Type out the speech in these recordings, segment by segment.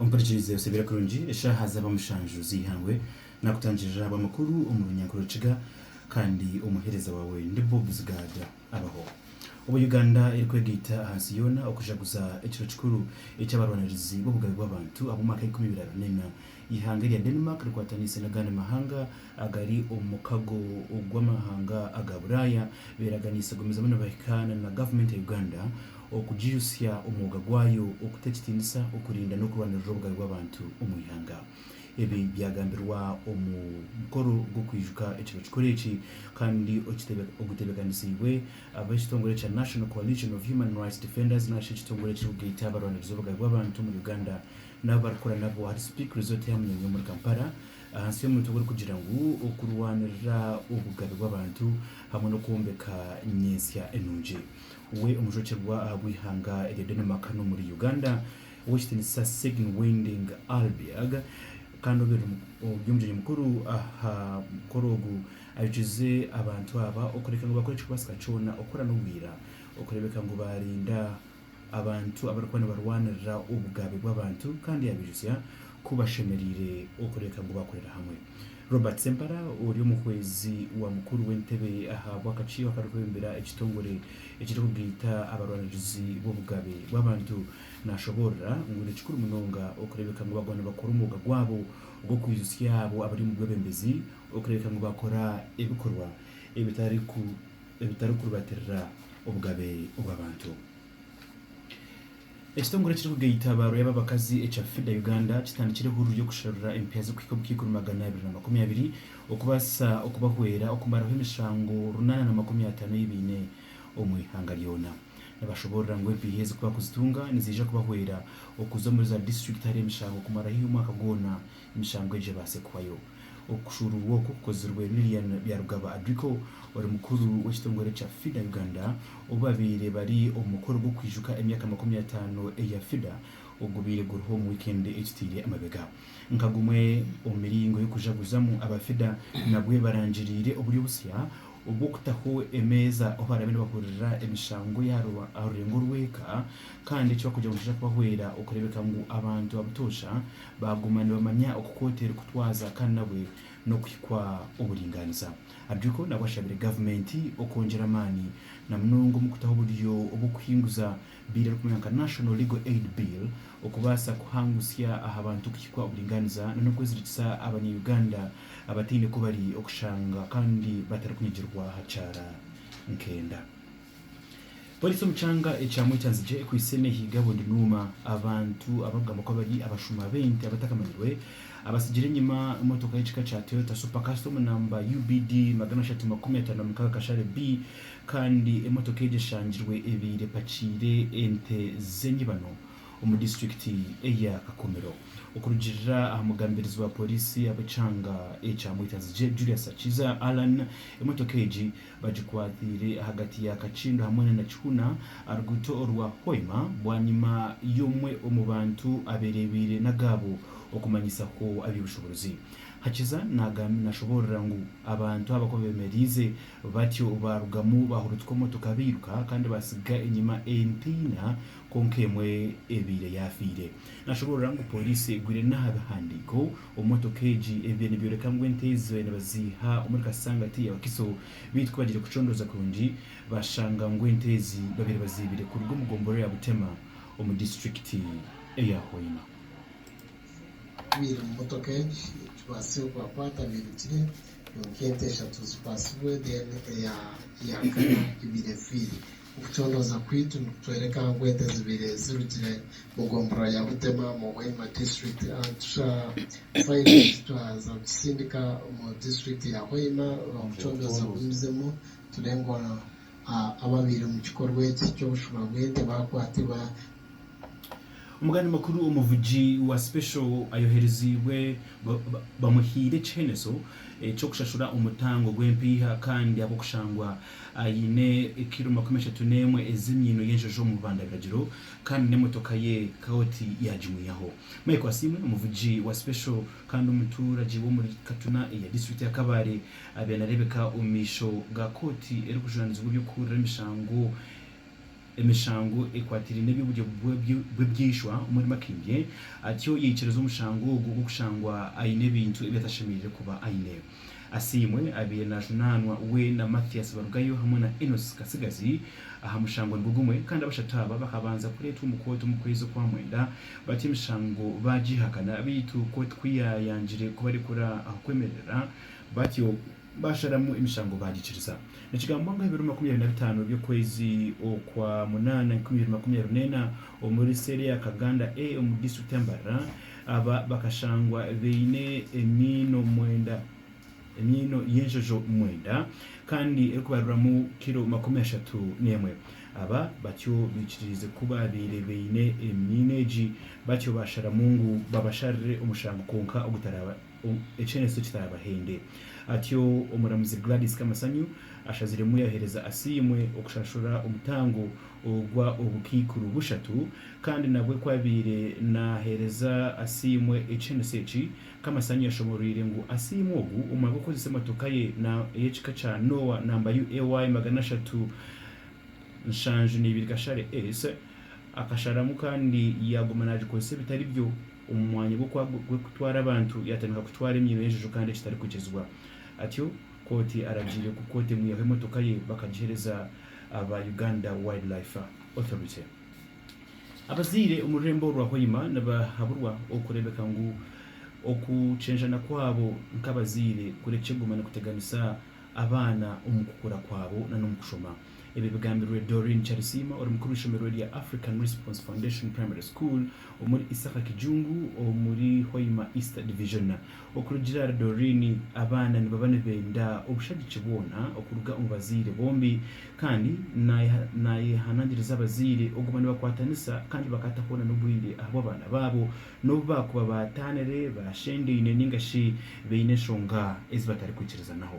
Ompurikirize osebeere kurungi eshaaha zaaba mushanju z'eihangwe naakutangirira ahabwa amakuru omu runyankore Rukiga kandi omuheereza waawe ndi Bob Zigaaga abaho. Obu Uganda erikwegaita ahansi yoona okujaguza ekiro kikuru eky'abarwanirizi b'obugabe bw'abantu ab'omwaka eikumi biraruneena Eihanga erya Denmark rikwatanise n'agandi mahanga agari omu mukago gw'amahanga aga Buraaya beeraganiise kugumizamu nibahikaana na gavumenti ya Uganda okugijutsya omwoga gwayo okuta ekitindisa, okurinda n'okurwanirira obugabe bw'abantu omu ihanga. Ebi byagambirwa omu mukoro gw'okwijuka ekiro kikuru eki kandi ogutebeekanisiibwe ab'ekitongore kya National Coalition of Human Rights Defenders nari shi ekitongore ekirikugaita abarwanirizi b'obugabe bw'abantu omuri Uganda, n'abu barikukora nabo ahari Speke Resort ya Munyonyo omuri Kampala ahansi y'omuntu ogu orikugira ngu okurwanirira obugabe bw'abantu hamwe n'okwombeka nyentsya enungi we omujwekyerwa ahabw'eihanga erya Denmark hanu omuri Uganda Ow'ekitiinisa Sigyn Winding Ahlbjerg kandi obeire ori omugyenyi mukuru aha mukoro ogu ayokize abantu aba okureka ngu bakore ekikubaasika kyona okukora n'obwira okureebeka ngu baarinda abantu abarikuba nibarwanirira obugabe bw'abantu kandi yabaijutsya ku bashemereire okureka ngu bakorere hamwe. Robert Sempala ori omuhwezi wa mukuru w'entebe aha bw'akakiiko akarikwebembera ekitongore ekirikugaita abarwanirizi b'obugabe bw'abantu naashoboorora ngu ni kikuru munonga okureebeka ngu baguma nibakora omwoga gwabo gw'okwijutsya abo abari omu bwebembezi okureebeka ngu bakora ebikorwa ebitari ebitarikurubatirira obugabe obw'abantu. Ekitongore ekirikugaita abaaru y'ababakazi ekya FIDA Uganda kitandikire hururu y'okusharura empiha z'okuhika omu kiikumi magana abiri na makumi abiri okubaasa okubahwera okumaraho emishango runana na makumi ataano ei baine omu ihanga ryona. Nibashoboorora ngu empiha ezi ku baakuzitunga niziija kubahwera okuza omuri za disiturikiti ahari emishango kumaraho omwaka gwona Emishango egyo ebaase kuhwayo. Okushuuruurwa okwo kukozirwe Lilian Byarugaba Adriko ori mukuru w'ekitongore kya FIDA Uganda obu babaire bari omu mukoro gw'okwijuka emyaka makumi ataano eya FIDA ogubaire guriho omu wiikendi egitaire amabega. Nka gumwe omu miringo y'okujaguzamu, aba FIDA nabwe barangiriire oburyo busya obw'okutaho emeeza ahu baraabe nibahurira emishango ey'aha rurengo rw'eka kandi eki barikugira ngu nikija kubahwera okureebeka ngu abantu abutoosha Baaguma nibamanya oku kooti erikutwaza kandi nabwe n'okuhikwa oburingaaniza. Adriko nabwe ashabire gavumenti okwongyera amaani na munonga omu kutaho oburyo obw'okuhinguza biiri erikumanywa nka National Legal Aid Bill okubaasa kuhangutsya aha bantu kuhikwa oburingaaniza na n'okwezirikisa abanya-Uganda abataine ku bari okushanga kandi batarikunyigirwa aha kyara nk'enda. Poliisi omu kyanga ekya Mwechanzigye ekwitse nehiiga bundunuuma abantu abakugambwa kuba bari abashuma b'ente abatakamanyirwe abatsigire enyima motoka y'ekika kya Toyota Super Custom namba UBD magana ashatu makumi ataano na mukaaga kashare B kandi emotoka egyo eshangirwe ebaire epakiire ente z'enyibano omu disiturikiti eya Kakumiro. Okurugiirira aha mugambirizi wa poliisi ab'ekyanga ekya Mwechanzigye Julius Hakiza Allan, emotoka egi, Bagikwatiire ahagati ya Kakindo hamwe na Nakihuna aha ruguuto orwa Hoima bwanyima y'omwe omu bantu abereebeire n'agaabo okumanyisa ku aby'obushoboorozi Hakiza nashoboorora ngu abantu aba ku beemereize batyo baarugamu baahurutuka emotoka bairuka kandi baatsiga enyima ente ina kwonka emwe ebaire yaafiire. Nashoboorora ngu pooriisi egwire n'aha bihandiiko. Omu motoka egi, ebibiina nibyoreka ngu ente ezo nibaziiha omuri Kasangati ya Wakiso beitu ku bagiire kucondooza kurungi, bashanga ngu ente ezi babaire baziibire kuruga omu gombolola ya Butema omu disiturikiti eya Hoima. Ababaire omu motoka egi ekibaasire kubakwata beirukire kwonka ente eshatu zikwatsibwe then eya kana ebaire efiire. Okucondooza kwaitu nikutworeka ahu ente zibaire zirugire mu gombolola ya Butema mu Hoima disiturikiti. Tusha silage twaza kugisindika omu disiturikiti ya Hoima kucondooza ku mizimu tureebe ngu ababaire omu kikorwa eki ky'obushuba bw'ente baakwatirwa Omugani mukuru omuvugi wa sipesho ayohereziibwe bamuhaire ekiheneso ky'okushashura omutango gw'empiiha kandi ahabw'okushangwa aine kiro makumi ashatu n'emwe ez'emyino y'enjojo omu bubanda biragiro kandi n'emotoka ye kooti yaagimwihaho. Michael Asiimwe, omuvugi wa sipesho kandi omuturagye w'omuri Katuna eya disiturikiti ya Kabale abaire nareebeka omu maisho ga kooti erikujunanizibwa eby'okuhurira emishango emishango ekwatiraine n'eby'oburyo bw'eby'eishwa omuri Makindye, atyo yaikiriza omushango ogwo gw'okushangwa aine ebintu ebi atashemereire kuba aine. Asiimwe abaire naajunaanwa we na Mathias Barugayo hamwe na Enos Katsigazi aha mushango nigwo gumwe kandi abashatu aba bakabanza kureetwa omu kooti omu kwezi okwa mwenda batyo emishango baagiihakana beitu kooti ku yaayangire kubarekura aha kwemerera batyo Baasharamu emishango baagikiriza. Nikigambwa ngu aha biro makumi abiri na bitaano by'okwezi okwa munaana enkumi ibiri makumi abiri n'ena, omuri seeri ya Kaganda A omu disiturikiti ya Mbarara, aba bakashangwa baine emiino mwenda, emiino y'enjojo mwenda kandi erikubaruramu kiro makumi ashatu n'emwe. Aba batyo baikiririize ku baabaire baine emiino egi, batyo baasharamu ngu babasharire omushango kwonka ogutaraaba. ekyereetso kitaraabahende. Atyo omuramuzi Gladys Kamasanyu ashaziremu yaheereza Asiimwe okushashura omutango ogwa obukaikuru bushatu kandi nabwe ku abaire naaheereza Asiimwe ekyereetso eki, Kamasanyu yashomoroire ngu Asiimwe ogu omwe abe okukozesa emotoka ye ey'ekika kya Noah namba UAY magana ashatu, nshanju neibiri kashare ese akasharamu kandi yaguma nagikozesa ebitari byo omu mwanya gw'okutwara abantu yatandika kutwara emyino y'enjojo kandi ekitarikwikirizibwa atyo kooti aragiire ku kooti emwihaho emotoka ye bakagihereza aba Uganda Wildlife Authority. Abazaire omu rurembo orwa Hoima nibahaburwa okureebeka ngu okukyenjana kwabo nk'abazaire kurekye guma nikuteganisa abaana omu kukura kwabo na n'omu kushoma. Ebyo bigambirwe Doreen Charisiima ori mukuru w'eishomero rya African Response Foundation Primary School omuri Isaka Kijungu omuri Hoima East Division. Okurugiirira ahari Doreen, abaana nibaba nibenda obushagiki bwona okuruga omu bazaire bombi kandi nayehanangiriza abazaire oguma nibakwatanisa kandi bakataho na n'obwire ahabw'abaana baabo n'obu baakuba baataanire, baashendeine, nainga shi baine enshonga ezi batarikwikirizanaho.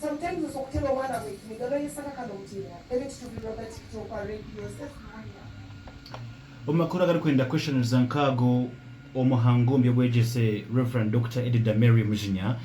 Sometimes oso kutera omwana gwe ekiniga no Yesu akaka no mutirira ebyo tucubirirwa gati kutokwa Rep Yosefu Muhonya. Omu makuru agari kwenda kweshaniriza nk'ago omu hango omu by'obwegyese Rev Doctor Edida Mary Mujinya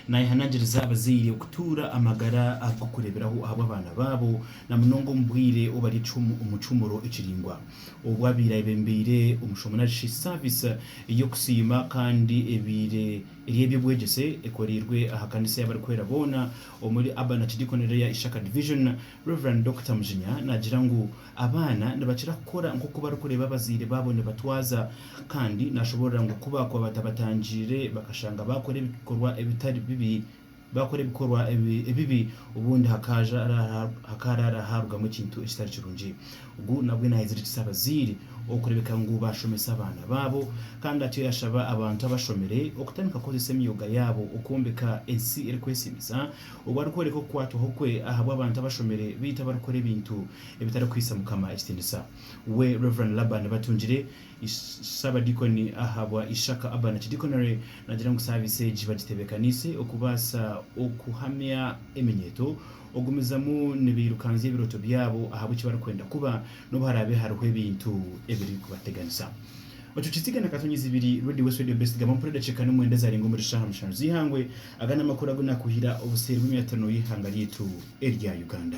nayehanangiriza abazaire okutuura amagara ag'okureberaho ahabw'abaana baabo na munonga omu bwiire obu bari omu kihumuro ekiringwa obu abaire ayebembeire omu Shomonarishi service y'okusiima kandi ebaire eyebyobwegyese ekoreirwe aha kanisa y'abarikwera boona omuri Urban Archdeacon Area Ishaka Division, Rev. Dokita Mujinya nagira ngu abaana nibakira kukora nk'oku barikureeba abazaire baabo nibatwaza kandi nashoborora ngu ku baakuba batabatangiire bakashanga baakora ebikorwa ebitari bibi Baakora ebikorwa ebibi, obundi hakaaraara haarugamu ekintu ekitari kirungi. Ogu nabwe naayezirikisa abazaire okureebeka ngu baashomesa abaana baabo. Kandi atyo yaashaba abantu abashomire okutandika kukozesa emyoga yaabo okwombeka ensi erikwesiimisa. Ogu arikworeka okukwatwaho kwe ahabw'abantu abashomire beitu abarikukora ebintu ebitarikuhaisa Mukama ekitiinisa. We Rev. Laban Batungire Ssabadiikoni ahabwa Ishaka Urban Archdiconary nagira ngu saabiisi egi bagitebekaniise okubaasa okuhamya eminyeeto, okugumizamu nibairukanzya ebirooto byabo ahabwa eki barikwenda kuba n'obu haraabe hariho ebintu ebirikubateganisa. Bacukitsiga na Katonyi Zibiri, Radio West Radio Best, gamba mpora edakiika n'omwenda ezaarenga omuri shaaha mushanu z'eihangwe. Aga n'amakuru agu naakuhira obuseeri bw'emyatano y'eihanga ryaitu erya Uganda.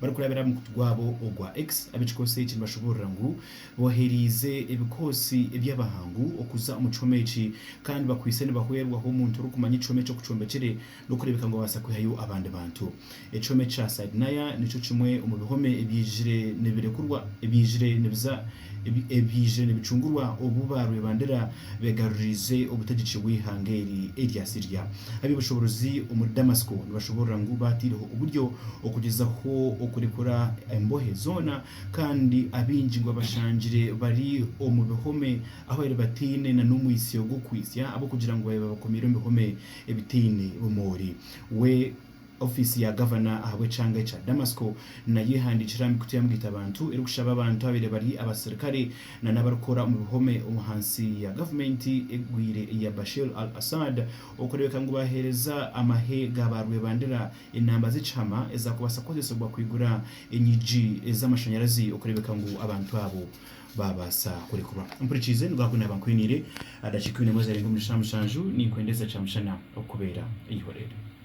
Barikurabira aha mukutu gwabo ogwa X, ab'ekikoosi eki nibashoboorora ngu bohereize ebikoosi by'abahangu okuza omu kihome eki kandi bakwaitse nibahwerwaho omuntu orikumanya ekihome eki oku kyombekire n'okureebeka ngu abaasa kwihayo abandi bantu. Ekihome kya Saidnaya nikyo kimwe omu bihome ebyaizire nibirekurwa ebyaizire nibiza ebyaije nibicungurwa obu ba rwebandera begaruriize obutegyeki bw'eihanga eri erya Syria. Ab'eby'obushoboorozi omuri Damasiko nibashoboorora ngu baataireho oburyo okugyezaho okurekura embohe zoona kandi abaingi ngu babashangire bari omu bihome ahu babaire bataine na n'omwitsyo gw'okuhitsya ab'okugira ngu babakomeire omu bihome ebitaine bumoori. We. Ofiisi ya Gavana ahabw'ekyanga ekya Damasiko nayo ehandiikire aha mikutu ya mugitabantu erikushaba abantu ababaire bari abasirikare nana abarikukora omu bihome omu hansi ya gavumenti egwire eya Bashir al-Assad okureebeka ngu baaheereza amahe ga ba rwebandira enamba z'ekihama ezaakubaasa kukozesebwa kwigura enyigi z'amashanyarazi okureebeka ngu abantu abo baabaasa kurekurwa. Ompurikiize, nigwo aha ku naaba nkwiniire. Aha dakiika ibiri na emwe ezaarenga omuri shaa mushanju, ninkwendeza Kyamushana okukubeera eihoreere.